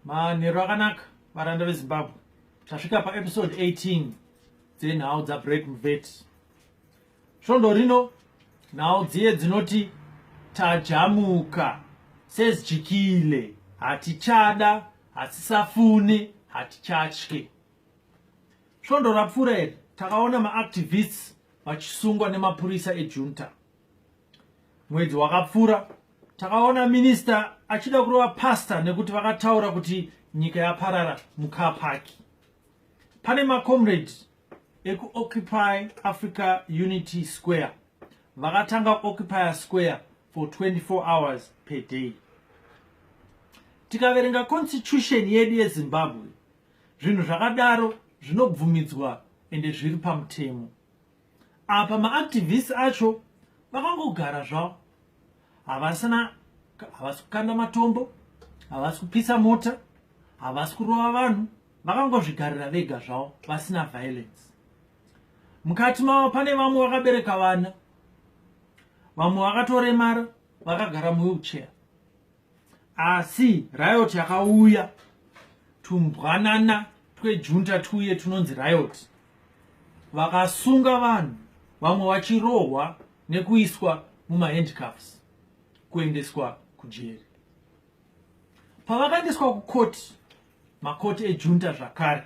manheru akanaka varanda vezimbabwe tasvika paepisode 18 dzenhau dzabrek mvet svondo rino nhau dziye dzinoti tajamuka sezijikile hatichada hatisafune hatichatye svondo rapfuura iri takaona maactivists vachisungwa nemapurisa ejunta Mwedzi wakapfura takaona minista achida kurova pastor nekuti vakataura kuti nyika yaparara mucar park. Pane macomrade ekuoccupy Africa Unity Square vakatanga occupier square for 24 hours per day. Tikaverenga constitution yedu yeZimbabwe zvinhu zvakadaro zvinobvumidzwa ende zviri pamutemo apa maactivist acho vakangogara zvavo havasina havasi kukanda matombo havasi kupisa mota havasi kurova vanhu vakangozvigarira vega zvavo vasina violence mukati mavo pane vamwe vakabereka vana vamwe vakatoremara vakagara muwheelchair asi riot yakauya tumbwanana twejunta tuye tunonzi riot vakasunga vanhu vamwe vachirohwa nekuiswa mumahandcuffs kuendeswa kujeri pavakaendeswa kukoti makoti ejunta zvakare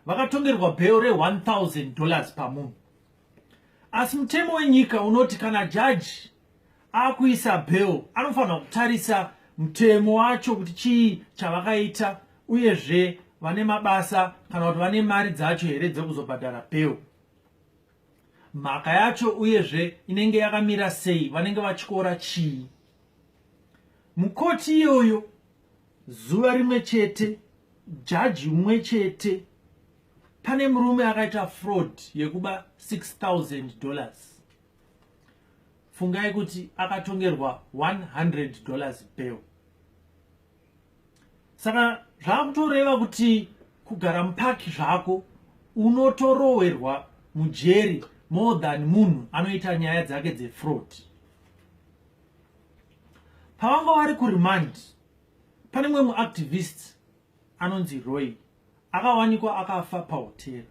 vakatongerwa bheo re1000 dollars pamunhu asi mutemo wenyika unoti kana jaji akuisa bel anofanira kutarisa mutemo wacho kuti chii chavakaita uyezve vane mabasa kana kuti vane mari dzacho here dzekuzobhadhara bel mhaka yacho uyezve inenge yakamira sei vanenge vachikora chii mukoti iyoyo zuva rimwe chete jaji umwe chete Pane murume akaita fraud yekuba 6000 dollars. Fungai kuti akatongerwa 100 dollars bail. Saka zvakutoreva kuti kugara mupaki zvako unotorowerwa mujeri more than munhu anoita nyaya dzake dzefraud pavanga vari kuremand pane mumwe muactivist anonzi roy akawanikwa akafa pahotera.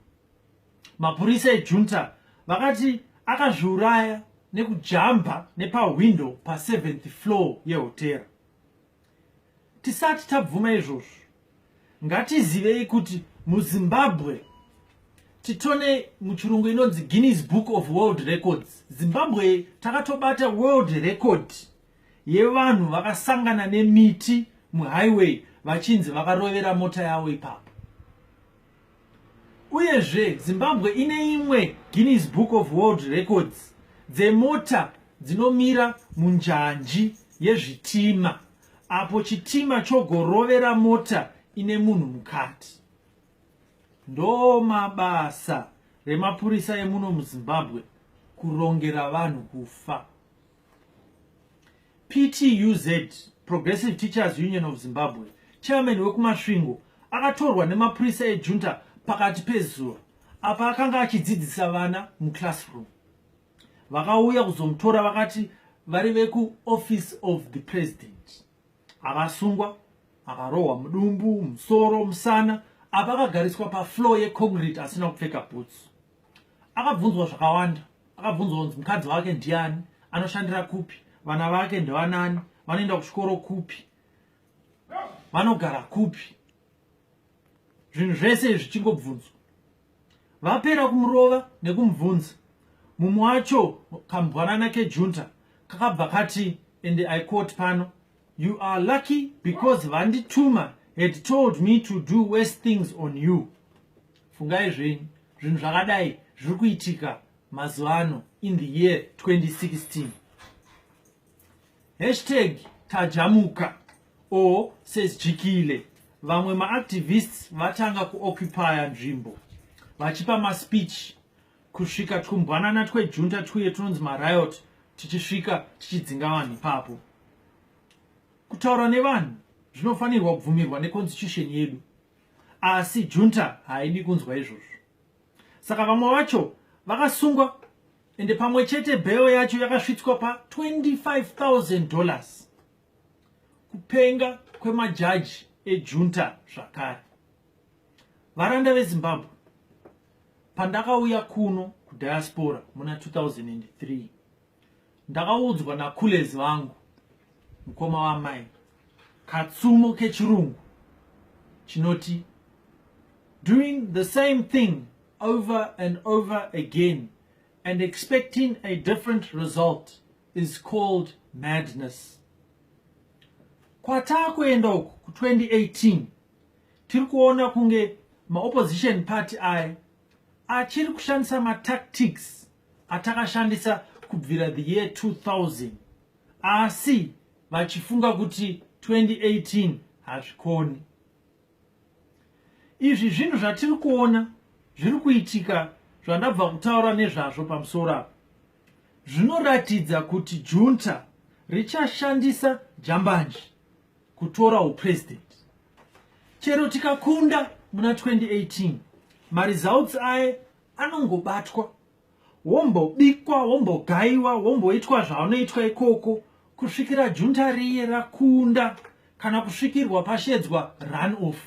Mapurisa ejunta vakati akazviuraya nekujamba nepahwindo pa7th floor yehotera. Tisati tabvuma izvozvo, ngatizivei kuti muzimbabwe titone muchirungu inonzi guinness book of world records zimbabwe takatobata world record yevanhu vakasangana nemiti muhighway vachinzi vakarovera mota yavo ipapo uyezve zimbabwe ine imwe guinness book of world records dzemota dzinomira munjanji yezvitima apo chitima chogorovera mota ine munhu mukati ndo mabasa remapurisa emuno muzimbabwe kurongera vanhu kufa ptuz progressive teachers union of zimbabwe chairman wekumasvingo akatorwa nemapurisa ejunta pakati pezuva apa akanga achidzidzisa vana muclassroom vakauya kuzomutora vakati vari vekuoffice of the president akasungwa akarohwa mudumbu musoro musana apa akagariswa pafloor yeconcrete asina kupfeka boots akabvunzwa zvakawanda akabvunzwa kunzi mukadzi wake ndiani anoshandira kupi vana vake ndevanani vanoenda kuchikoro kupi vanogara kupi zvinhu zvese izvi chingobvunzwa vapera kumurova nekumubvunza mumwe wacho kambwanana kejunta kakabva kati and i quote pano you are lucky because vandituma had told me to do worse things on you fungai zvenyu zvinhu zvakadai zviri kuitika mazuva ano in the year 2016 hashtag tajamuka or says jikile vamwe maactivists vatanga kuoccupya nzvimbo vachipa maspeech kusvika twumbwanana twejunta twuye twunonzi mariot tichisvika tichidzinga vanhu ipapo kutaura nevanhu zvinofanirwa kubvumirwa neconstitution yedu asi junta haidi kunzwa izvozvo saka vamwe vacho vakasungwa ende pamwe chete bheo yacho yakasvitswa pa 25000 dollars kupenga kwemajaji ejunta zvakare varanda vezimbabwe pandakauya kuno kudiaspora muna 2003 ndakaudzwa nakulezi vangu mukoma wamai katsumo kechirungu chinoti doing the same thing over and over again and expecting a different result is called madness kwataa kuenda uku ku 2018 tiri kuona kunge maopposition party aya achiri kushandisa matactics atakashandisa kubvira the year 2000 asi vachifunga kuti 2018 hazvikoni izvi zvinhu zvatiri kuona zviri kuitika zvandabva kutaura nezvazvo pamusoro apa zvinoratidza kuti junta richashandisa jambanji kutora upresident chero tikakunda muna 2018 maresults aye anongobatwa wombobikwa wombogaiwa womboitwa zvaunoitwa ikoko kusvikira junta riye rakunda kana kusvikirwa pashedzwa run off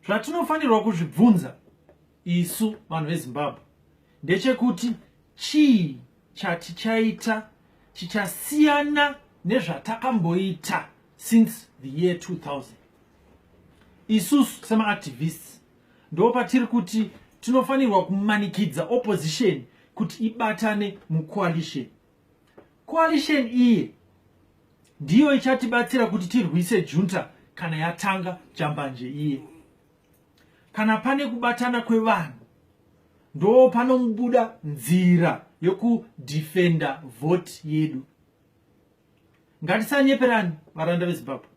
zvatinofanirwa kuzvibvunza isu vanhu vezimbabwe ndechekuti chii chatichaita chichasiyana nezvatakamboita since the year 2000 isusu semaactivists ndo patiri kuti tinofanirwa kumanikidza opposition kuti ibatane mucoalition Coalition iyi ndiyo ichatibatsira kuti tirwise junta kana yatanga jambanje iye. Kana pane kubatana kwevanhu ndo panobuda nzira yokudefenda vote yedu. Ngatisanyeperani varanda veZimbabwe.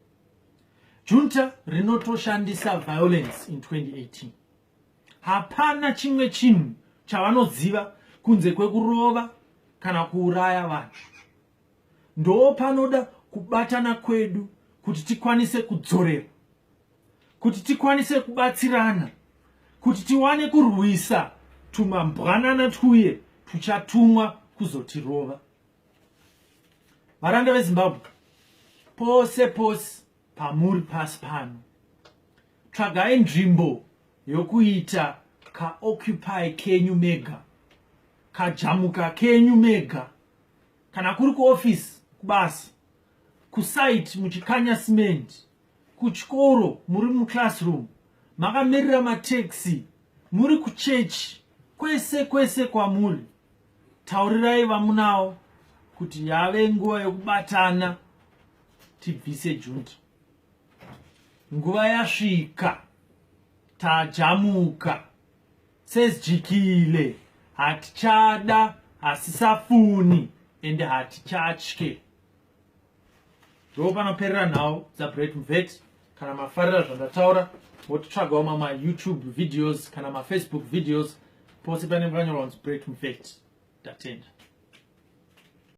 Junta rinotoshandisa violence in 2018. hapana chimwe chinhu chavanoziva kunze kwekurova kana kuuraya vanhu ndoo panoda kubatana kwedu kuti tikwanise kudzorera kuti tikwanise kubatsirana kuti tiwane kurwisa tumambwanana twuye tuchatumwa kuzotirova varanda vezimbabwe pose pose pamuri pasi pano tsvagai nzvimbo yokuita kaoccupy kenyu mega kajamuka kenyu mega kana kuri kuofisi kubasa kusite muchikanya cement kuchikoro muri muclassroom makamirira mataxi muri kuchechi kwese kwese kwamuri taurirai vamunawo kuti yave nguva yokubatana tibvise junta nguva yasvika tajamuka sezijikile hatichada hasisafuni ende hatichatye ndo panoperera nhau dzabright mvet kana mafarira zvandataura motitsvagawo mama youtube videos kana mafacebook videos pose panenge panyorwa kunzi bright mvet ndatenda